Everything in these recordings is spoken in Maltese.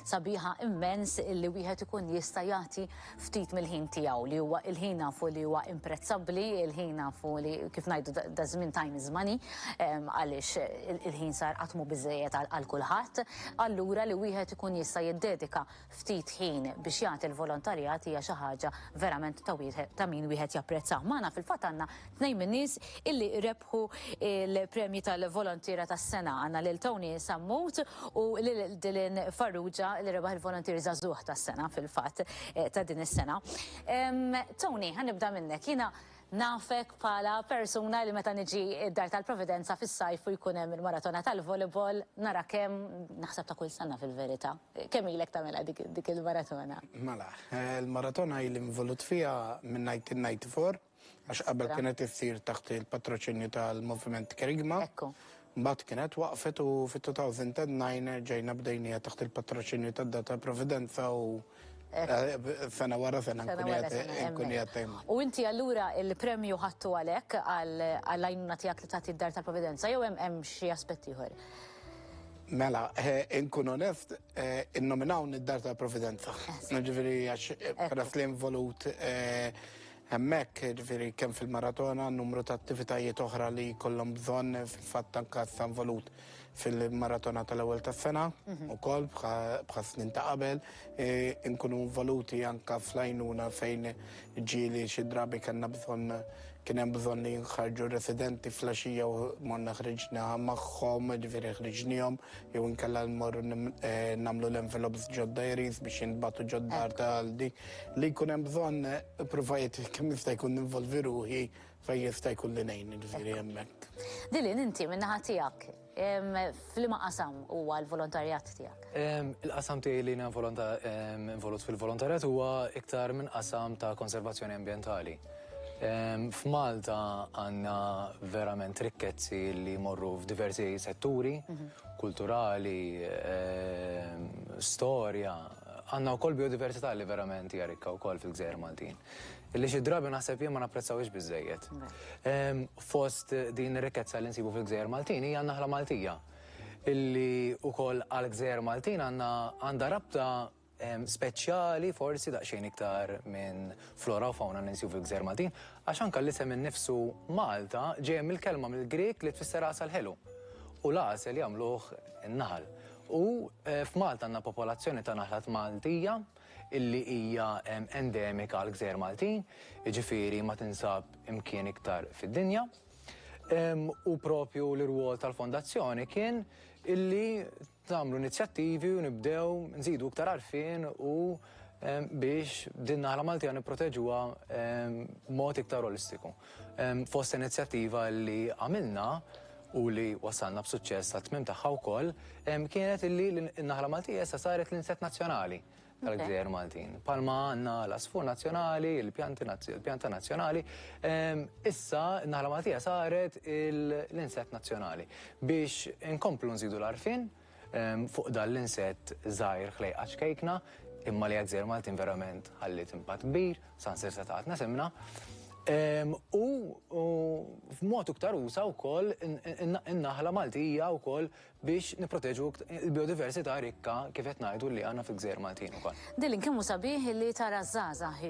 Sabiħa immens illi wieħed ikun jista' jagħti ftit mill-ħin tiegħu li huwa il-ħin nafu li huwa imprezzabbli, il-ħin nafu li kif ngħidu daż-żmien time is money għaliex il-ħin sar qatt mhu biżżejjed għal kulħadd. Allura li wieħed ikun jista' jiddedika ftit ħin biex jagħti l-volontarjat hija xi ħaġa verament ta' min wieħed japprezzah. Magħna fil-fatt għandna Tnejn min-nies illi rebħu l-premji tal-Volontiera tas-Sena, għandna lil Tony Sammut u lil Dylan Farrugia li rebaħ il-Volontier Żagħżugħ tas-Sena fil-fatt ta' din is-sena. Tony, ħa nibda minnek, jiena nafek bħala persuna li meta niġi d-Dar tal-Providenza fis-sajf u jkun hemm il-maratona tal-volleyball narak hemm, naħseb ta' kull sena fil-verità. Kemm ilek tagħmilha dik il-maratona? Mela, il-maratona ili involut fiha minn 1994, Għax qabel kienet issir taħt il-patroċinju tal-Moviment Kerygma. Ekku. Mbagħad kienet waqfet u fit-2009 ġejna bdejnija taħt il-patroċinju tad-Data Providenza u Sena wara sena nkun jattem. U inti allura il-premju ħattu għalek għal-għajnuna tijak li tagħti d-dar tal-providenza jew hemm xi aspett ieħor? Mela, eh, inkun onest, eh, innominaw id-dar tal-providenza. Ġifieri għax peress eh, li involut Hemmhekk, jiġifieri kemm fil-maratona, numru ta' attivitajiet oħra li jkollhom bżonn fil-fatt anke sa involut fil-maratona tal-ewwel tas-sena wkoll bħas-snin ta' qabel, inkunu involuti anke fl-għajnuna fejn ġieli xi drabi kellna bżonn kien hemm bżonn li jinħarġu r-residenti fl-għaxija u morna ħriġna magħhom, jiġifieri ħriġniehom, jew inkella mmorru nagħmlu l-envelopes ġodda Eriez biex jintbagħtu ġo-dar ta' Aldi. Li jkun hemm bżonn provajt kemm jista' jkun ninvolvi ruħi fejn jista' jkun li ngħin ġifieri hemmhekk. Dilin inti min-naħa tiegħek f'liema qasam huwa l-volontarjat tiegħek? Il-qasam tiegħi li involut fil-volontarjat huwa iktar minn qasam ta' konservazzjoni ambjentali. F'Malta għandna verament rikkezzi li jmorru f'diversi setturi, kulturali, storja, Għandna wkoll biodiversità li verament hija rikka wkoll fil-gżejjer Maltin. Li xi drabi naħseb jien ma napprezzawhiex biżżejjed. Fost din ir-rikkezza li nsibu fil-gżejjer Maltin hija n-naħla Maltija. Li wkoll għall-gżejjer Maltin għandna għandha rabta speċjali forsi daqsxejn iktar minn flora u fawna li nsibu fil-gżejjer Maltin. Għax anke l-isem innifsu Malta ġej mill-kelma mill-Grieg li tfisser għasal ħelu. U l-għasel jagħmluh in-naħal. U f'Malta għandna popolazzjoni ta' naħlat Maltija illi hija endemika għall-gżejjer Maltin, jiġifieri ma tinsab imkien iktar fid-dinja. U propju l-irwol tal-Fondazzjoni kien illi tagħmlu inizjattivi u nibdew nżidu iktar għarfien u biex din naħla Maltija nipproteġuha mod iktar olistiku. Fost inizjattiva li għamilna u li wassalna b'suċċess għat-tmiem tagħha wkoll, kienet illi n-naħla Maltija issa saret l-insett nazzjonali tal-gżejjer Maltin. Palma għandna l-għasfur nazzjonali, il-pjanta nazzjonali, issa n-naħla Maltija saret l-insett nazzjonali. Biex inkomplu nżidu l-għarfien Fuq dan l-insett żgħir ħlejqa ċkejkna, imma li għad-gżejjer Maltin verament ħalliet impatt kbir, saħansirsa taqgħatna simna. U f'mod iktar usa' wkoll in-naħla Maltija wkoll biex nipproteġu l-biodiversità rikka kif qed ngħidu li għandna fil-gżejjer Maltin ukoll. Dylan, kemm hu sabiħ li tara ż-żgħażagħ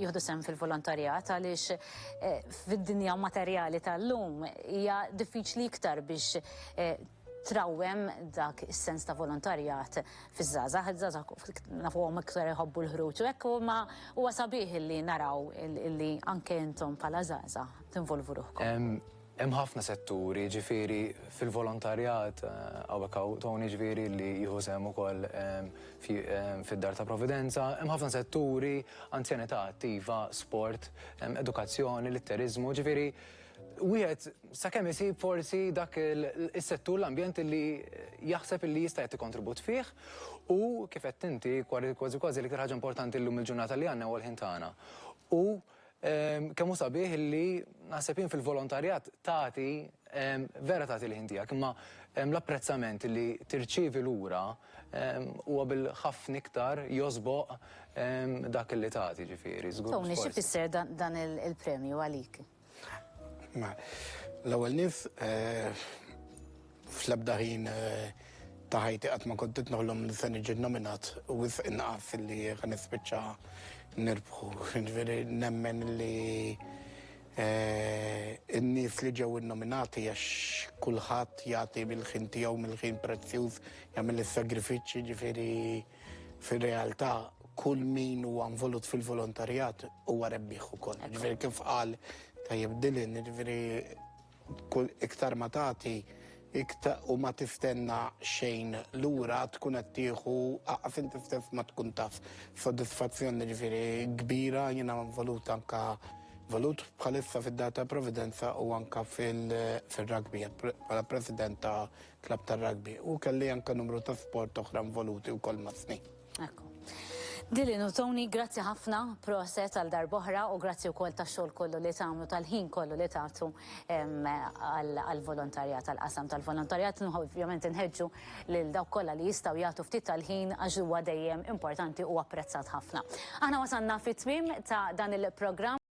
jieħdu sehem fil-volontarjat għaliex fid-dinja materjali tal-lum hija diffiċli iktar biex trawwem dak is-sens ta' volontarjat fiż-żgħażagħ, iż-żgħażagħ nafuhom iktar iħobbu l-ħruġ u hekk imma huwa sabiħ illi naraw illi anke intom bħala żgħażagħ tinvolvu ruħkom. Hemm ħafna setturi, jiġifieri fil-volontarjat hawnhekk hawn Tony jiġifieri li jieħu sehem ukoll fid-Dar ta' Providenza, hemm ħafna setturi, anzjanità attiva, sport, edukazzjoni, litteriżmu, jiġifieri Wieħed sakemm isib forsi dak is-settur l-ambjent li jaħseb li jista' jagħti kontribut fih u kif qed inti kważi kważi l-iktar ħaġa importanti llum il-ġurnata li għandna huwa l-ħin tagħna. U ehm, kemm hu sabiħ li naħseb jien fil-volontarjat tagħti ehm, vera tagħti l-ħin tiegħek, imma ehm, l-apprezzament li tirċievi lura huwa bil-ħafna iktar josboq dak li tagħti ġifieri. Tony, xi fisser dan il-premju għalik? L-ewwel nies fl-ebda ħin ta' ħajti qatt ma kont qed noħlom li se niġi nominat u wisq inqas li ħa nispiċċa nirbħu. Ġifieri nemmen li n-nies li ġew innominati għax kulħadd jagħti mill-ħin tiegħu, mill-ħin prezzjuż, jagħmel is-sagrifiċċji, ġifieri. Fir-realtà kull min huwa involut fil-volontarjat huwa rebbieħ ukoll. Ġifieri kif qal tajjeb Dylan, ġifieri kull iktar ma tagħti iktar u ma tiftenna xejn lura tkun qed tieħu aqaf inti ftef ma tkun taf. Soddisfazzjon ġifieri kbira jiena involut anka volut bħalissa fid-data Providenza u anka fil-rugby bħala president ta' klabb tar-rugby u kelli anke numru ta' sport oħra involuti wkoll mas-snin. Ekku. Dylan u Tony, grazzi ħafna, proset għal darb'oħra u grazzi wkoll tax-xogħol kollu li tagħmlu tal-ħin kollu li tagħtu għall-volontarjat, għall-qasam tal-volontarjat. Ovvjament inħeġġu lil dawk kollha li jistgħu jagħtu ftit tal-ħin għax huwa dejjem importanti u apprezzat ħafna. Aħna wasalna fit-tmiem ta' dan il-programm.